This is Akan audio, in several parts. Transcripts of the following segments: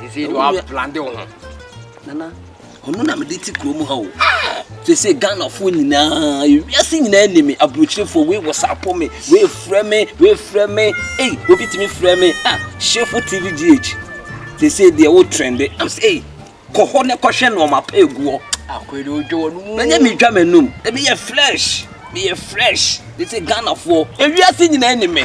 Sese de wa blande wo ho. Nana, ɔno na mede te kurom ha o. Sese Ghanafoɔ nyinaa, wiase nyinaa ni me, aburokyerefoɔ wei wɔsapo me, wei frɛ me, wei frɛ me, ei, obi tumi frɛ me, ah, Shefo TV GH. Sese deɛ wo trende, am sɛ, ei, kɔ hɔ ne kɔhwɛ nneɛma pa eguɔ. Akwede odwo wɔn mu. Manyɛ mi dwa m'anum, ebi yɛ flesh, mi yɛ fresh, sese Ghanafoɔ, ewiase nyinaa ni me.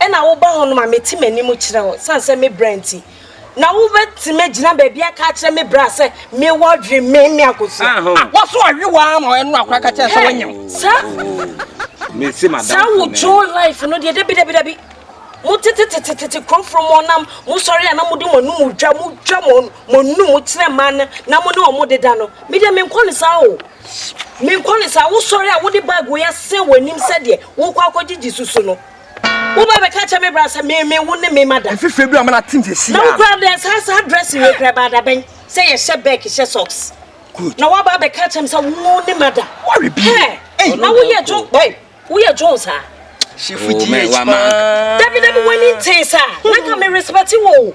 Ɛna woba hɔnom a meti m'anim kyerɛ wo sane sɛ me bra nti. Na wobɛtumi agyina baabi aka akyerɛ me bra sɛ mewɔ adwene me me akosua. Wɔso awe wo ara ma ɛno akora ka kyerɛ sɛ wanyam. Saa saa wo Joe life no deɛ dabi dabi dabi. Mo tete tete tete kuroforo mo nam mo sɔre a na mo de mo anum dwa mo dwa mo mo num kyerɛ mmaa no na mo ne wɔn deda no. Me deɛ menkɔ ne saa o. Menkɔ ne saa wosɔre a wode bag wei asɛn w'anim sɛdeɛ wokɔ akɔgyegye susu no. Woba bɛka kyɛ me bra sɛ me me wo ne me ma da. Mfe fɛ bi a me na tim sɛ si. Na wo kura dɛ saa saa dress wei kura ba da bɛn sɛ yɛ hyɛ bag hyɛ socks. Good. Na woba bɛka kyɛ me sɛ wo ne ma da. Worry bi. Hey, na wo yɛ jo, boy. Wo yɛ jo saa. She fuji oh, paa. Dabi dabi wani nte saa. Na ka me respect wo.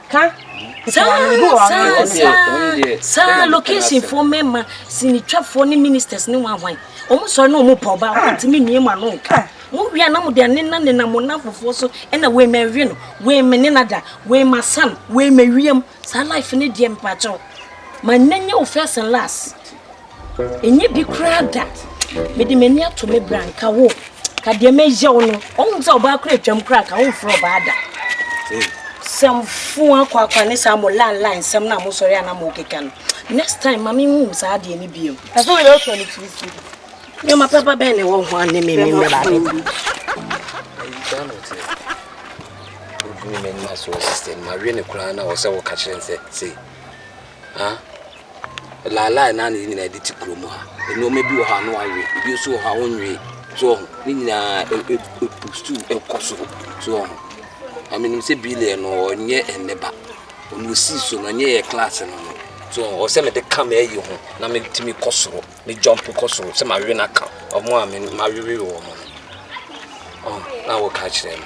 Ka saa saa saa saa locationfoɔ mmarima sinitwafoɔ ne ministers ne wɔn ahwan wɔn sɔre na wɔn pɔ ɔbaa wɔn ntumi mmie mu ano nka mo wia na mo de anena nena mo nafofoɔ so ɛna wei ma ɛwe no wei ma nena da wei ma san wei ma wiem saa life ne deɛ mpakyɛw ma nna nyɛ wo first and last Ɛnyɛ bi koraa da. Mede m'ani ato me bra nka wo. Ka deɛ mɛyɛ wo no. Ɔhu sɛ ɔbaa kora atwam koraa ka womfrɛ ɔbaa da. Sɛm fo akɔ akɔ ne saa mo lan lan sɛm na mo sɔre ana mo keka no. Next time ma me hu saa deɛ ne biam. Ɛso yɛ ɔtɔ ne tiri so. Nyoma papa bɛn ne wɔ ho ane me me mɛba abɛka. Odumi mɛnima so sister ma we ne koraa na ɔsɛ wo ka kyerɛ nsɛ sei. Ah. Ɛlaalae na ne nyinaa de te kurom ha. Nneɛma bi wɔ hɔ a na wɔawe, ebi nso wɔ hɔ a wɔnwee. So wɔn ho? Ne nyinaa ɛ ɛ ɛpu so kɔ soro. So wɔn ho? Na menim sɛ Billiat no ɔnyɛ ɛnnɛ ba. Ɔno ɔsii so no, ɛnyɛ yɛn class no no. So wɔn ho? Ɔsɛ mede ka m'ayi ho na metumi kɔ soro, me jump kɔ soro sɛ mawe no aka wɔn a me mawewe wɔn no. Wɔn ho? Na woka kyerɛ no.